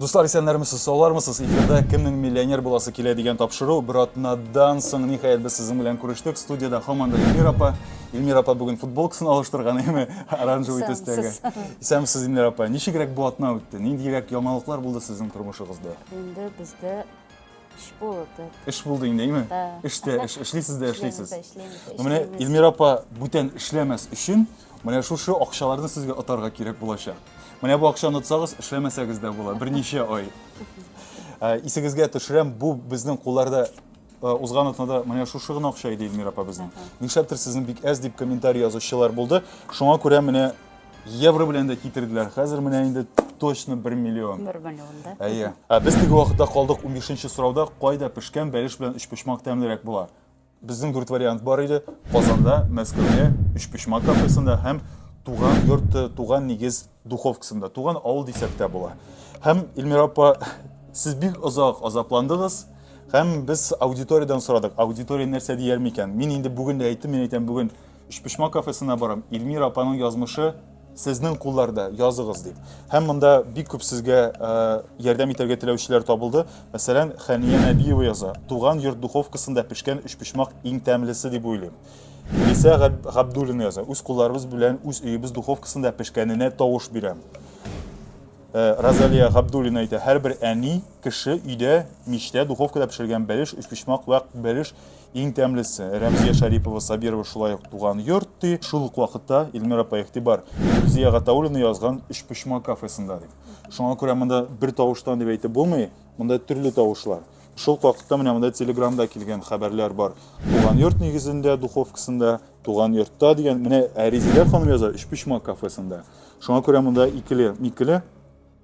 Дуслар, исәннәрмесез, саулармысыз? Эфирда кемнең миллионер буласы килә дигән тапшыру. Бер атнадан соң ниһаять без сезнең белән күрештек. Студияда һаман да Эльмира апа. Эльмира апа бүген футболкасын алыштырган, әйме? Оранжевый төстәге. Исәнмесез, Эльмира апа. Ничегрәк бу атна үтте? Ниндирәк яңалыклар булды сезнең тормышыгызда? Инде бездә Эш булды. Эш булды инде, әйме? Эштә, эш, эшлисез дә эшлисез. Менә Эльмира апа бүтән эшләмәс өчен, менә шушы акчаларны сезгә отарга кирәк булачак. Менә бу акчаны отсагыз, эшләмәсәгез дә була, берничә ай. Ә, Исегезгә төшерәм, бу безнең кулларда ә, узган атнада менә шушы гына акча иде Эльмира апа безнең. Нишләптер сезнең бик әз дип комментарий язучылар булды. Шуңа күрә менә Евро белән дә китерделәр. Хәзер менә инде точно 1 миллион. 1 миллион, да? Әйе. Ә без теге вакытта калдык 15 нче сорауда, кайда пешкән бәлеш белән өчпочмак тәмлерәк була? Безнең дүрт вариант бар иде. Казанда, Мәскәүдә, өчпочмак кафесында һәм туган йорт, туган нигез духовкасында. Туган авыл дисәк тә була. Һәм Эльмира апа, сез бик озак азапландыгыз. Һәм без аудиториядән сорадык, аудитория нәрсә дияр микән? Мин инде бүген дә әйттем, мин әйтәм бүген Өчпочмак кафесына барам, Ильмира апаның язмышы сезнең кулларда, языгыз дип. Һәм монда бик күп сезгә э, ярдәм итәргә теләүчеләр табылды. Мәсәлән, Хәния Нәбиева яза. Туган йорт духовкасында пешкән өчпочмак иң тәмлесе дип уйлыйм. Лисә Габдуллина яза. Үз кулларыбыз белән үз өебез духовкасында пешкәненә тавыш бирәм. Э, Розалия Габдуллина әйтә, һәрбер әни кеше өйдә мичтә духовкада пешергән бәлеш, өчпочмак вә бәлеш Иң тәмлесе, Рәмзия Шарипова Сабирова шулай ук туган йорт, ди. Шул ук вакытта, Илмир апа, игътибар, Рүзия Гатауллина язган Өчпочмак кафесында, ди. Шуңа күрә монда бер тавыштан дип әйтеп булмый, монда төрле тавышлар. Шул ук вакытта менә монда телеграмда килгән хәбәрләр бар. Туган йорт нигезендә, духовкасында, туган йортта дигән, менә ә Резидә ханым яза Өчпочмак кафесында. Шуңа күрә монда икеле-микеле.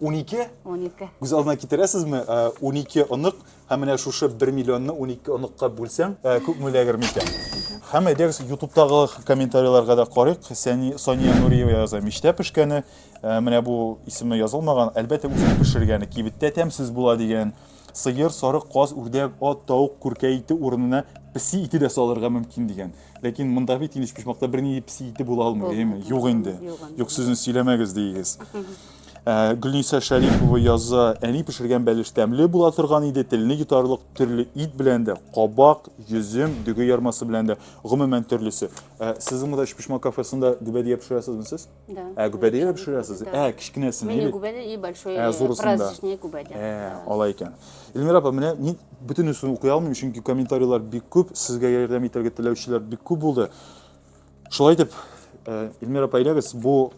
12? 12. Күз алдына китерәсезме? 12 э, онык һәм менә шушы 1 миллионны 12 оныкка бүлсәң, э, күп мөләгер микән? Һәм әйдәгез ютубтагы комментарийларга да карыйк. Сәни Сония Нуриева яза, миштә пешкәне, э, менә бу исеме язылмаган, әлбәттә үзе пешергәне, кибеттә тәмсез була дигән. Сыер, сарык, каз, үрдәк, ат, тауык, күркә ите урынына песи ите дә салырга мөмкин дигән. Ләкин монда бит инеш почмакта берни песи ите була алмый, әйеме? Юк инде. Юк сүзен сөйләмәгез диегез. Ә, Гөлниса Шәрипова яза, әни пешергән бәлеш тәмле була торган иде, телне йотарлык төрле ит белән дә, кабак, йөзем, дөге ярмасы белән дә, гомумән төрлесе. Ә, Сезнең монда өчпочмак кафесында дибәдия пешерәсезме сез? Да. Ә гүбәдәгә дә пешерәсез? Ә, кечкенәсен. Менә гүбәдә и большой ә, э, праздничный гүбәдә. Ә, алай икән. Эльмира апа, менә мин бөтенесен укый алмыйм, чөнки комментарийлар бик күп, сезгә ярдәм итәргә теләүчеләр бик күп булды. Шулай итеп, э, Эльмира апа, әйләгез, бу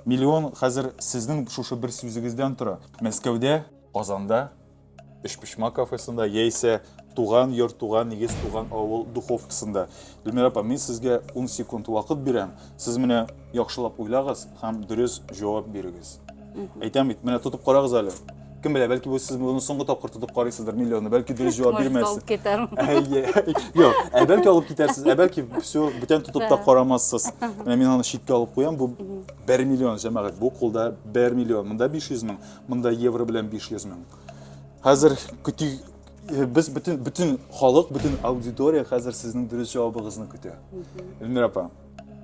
миллион хәзер сезнең шушы бер сүзегездән тора. Мәскәүдә, Казанда Өчпочмак кафесында яисә туган йорт, туган нигез, туган авыл духовкасында. Гөлмира апа, мин сезгә 10 секунд вакыт бирәм. Сез менә яхшылап уйлагыз һәм дөрес җавап бирегез. Әйтәм бит, менә тотып карагыз әле. Кем белә, бәлки бу сез моны соңгы тапкыр тотып карыйсыздыр миллионны, бәлки дөрес җавап бирмәссез. Алып китәрмен. Юк, ә бәлки алып китәрсез, ә бәлки все, бүтән тотып та карамассыз. Менә мин аны читкә алып куям, бу 1 миллион, җәмәгать, бу кулда 1 миллион, монда 500 мең. Монда евро белән 500 мең. Хәзер көти без бөтен бөтен халык, бөтен аудитория хәзер сезнең дөрес җавабыгызны көтә. Эльмира апа,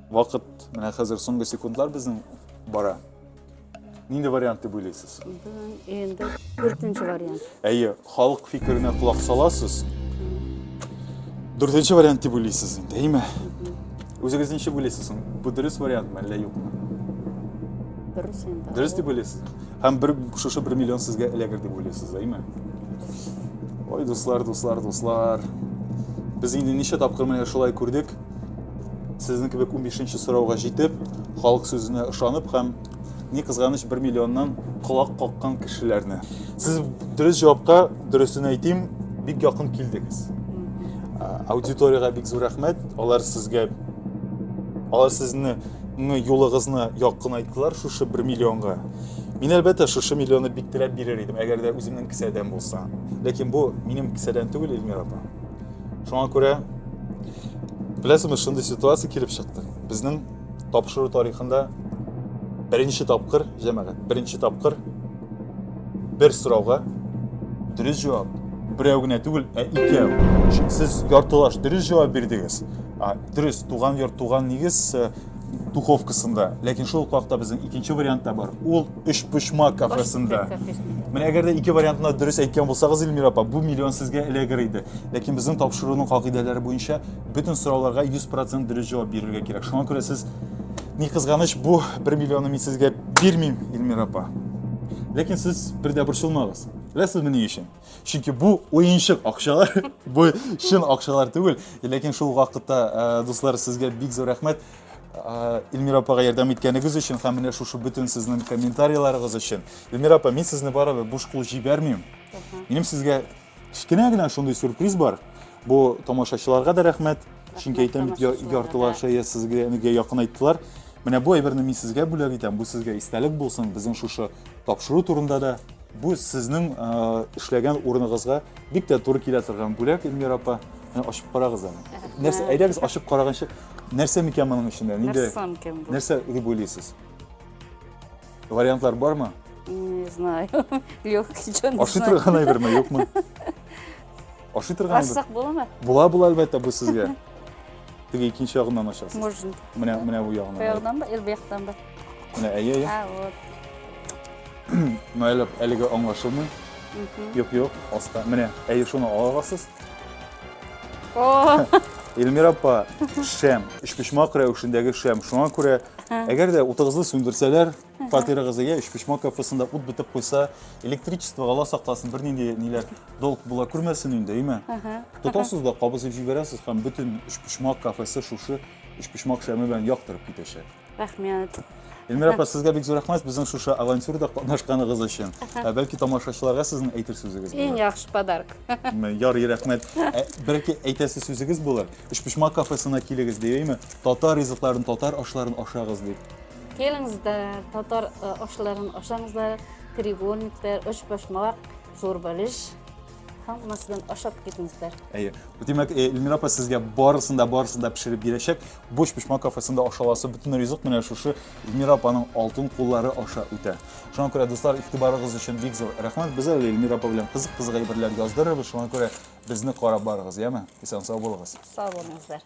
вакыт менә хәзер соңгы секундлар безнең бара. Нинди вариант дип уйлыйсыз? Инде 4 вариант. Әйе, Халык фикеренә колак саласыз. Дүртенче вариант дип уйлыйсыз инде, әйме? Үзегез ничек уйлыйсыз соң? Бу дөрес вариантмы әллә юкмы? Дөрес инде. Дөрес дип уйлыйсыз. Һәм бер шушы бер миллион сезгә эләгер дип уйлыйсыз, әйме? Ой, дуслар, дуслар, дуслар. Без инде ничә тапкыр менә шулай күрдек. Сезнең кебек 15 нче сорауга җитеп, халык сүзенә ышанып һәм Ни кызганыч, бер миллионнан колак каккан кешеләрне. Сез дөрес җавапка, дөресен әйтим, бик якын килдегез. Аудиториягә бик зур рәхмәт. Алар сезгә алар сезне юлыгызны якын айттылар шушы бер миллионга. Мин әлбәттә шушы миллионы бик теләп бирер идем, әгәр дә үземнең кесәдән булса. Ләкин бу минем кесәдән түгел, Эльмира апа. Шуңа күрә, беләсезме, шундый ситуация килеп чыкты. Безнең тапшыру тарихында беренче тапкыр, җәмәгать, беренче тапкыр бер сорауга дөрес җавап берәү генә түгел, ә икәү. Сез яртылаш дөрес җавап бирдегез. А, дөрес, туган йорт, туган нигез э, духовкасында. Ләкин шул ук вакытта безнең икенче вариант та бар. Ул өч почмак кафесында. Менә әгәр дә ике вариантны дөрес әйткән булсагыз, Эльмира апа, бу миллион сезгә эләгер иде. Ләкин безнең тапшыруның кагыйдәләре буенча Бөтен сорауларга 100% дөрес җавап бирергә кирәк. Шуңа күрә сез ни кызганыч, бу 1 миллионны мин сезгә бирмим, Эльмира апа. Ләкин сез бер дә борчылмагыз. Беләсезме ни өчен? Чөнки бу уенчык акчалар, бу чын акчалар түгел. Ләкин шул вакытта, э, дуслар, сезгә бик зур рәхмәт. Э, Эльмира апага ярдәм иткәнегез өчен һәм менә шушы бөтен сезнең комментарийларыгыз өчен. Эльмира апа, мин сезне барыбер буш кул җибәрмим. Минем сезгә Кечкенә генә шундый сюрприз бар. Бу тамашачыларга да рәхмәт. Чөнки әйтәм бит, яртылаш шәя сезгә әнигә якын айттылар. Менә бу әйберне мин сезгә бүләк итәм. Бу сезгә истәлек булсын. Безнең шушы тапшыру турында да бу сезнең эшләгән урыныгызга бик тә туры килә торган бүләк, Эльмира апа. Ачып карагыз аны. Нәрсә, әйдәгез ачып караганчы, нәрсә микән моның эчендә? Нәрсә дип уйлыйсыз? Вариантлар бармы? Не знаю. Легкий чон. Ашый торган әйберме, юкмы? Ашый торган әйбер. Ашсак буламы? Була, була әлбәттә бу сезгә. Теге икенче ягыннан ашасыз. Можно. Менә, менә бу ягыннан. Бу ягыннан ба, ил бу яктан ба? Менә, әйе, әйе. А, вот. Мәйләп, әлеге аңлашылмый. Юк, юк, аста. Менә, әйе, шуны аласыз. Эльмира апа, шәм, өчпочмак рәвешендәге шәм. Шуңа күрә, әгәр дә утыгызны сүндерсәләр, фатирыгызы я өчпочмак кафесында ут бетеп куйса, электричество ала сакласын, бернинди ниләр долг була күрмәсен инде, әйме? Тотасыз да кабызып җибәрәсез һәм бөтен өчпочмак кафесе шушы өчпочмак шәме белән яктырып китәчәк. Рәхмәт. Эльмира апа, сезгә бик зур рәхмәт безнең шушы авантюрда катнашканыгыз өчен. Ә бәлки тамашачыларга сезнең әйтер сүзегез булыр? Иң яхшы подарок. Ярый, рәхмәт. Ә бәлки әйтәсе сүзегез булыр? Өчпочмак кафесына килегез дибейме? Татар ризыкларын, татар ашларын ашагыз дип. Келиңиздер, татар ашларын ашаңызлар, треугольниктер, өчпочмак, зур бәлеш. Хаммасыдан ашап китмезләр. Әйе. Димәк, э, Эльмира апа сезгә барысын да барысын да пешереп бирәчәк. Буш пешмак кафесында ашаласы бөтен ризык менә шушы Эльмира апаның алтын куллары аша үтә. Шуңа күрә дуслар, игътибарыгыз өчен бик зур рәхмәт. Без әле Эльмира апа белән кызык-кызык әйберләр яздырырбыз. Шуңа күрә безне карап барыгыз, яме? Исән сау булыгыз. Сау булыңызлар.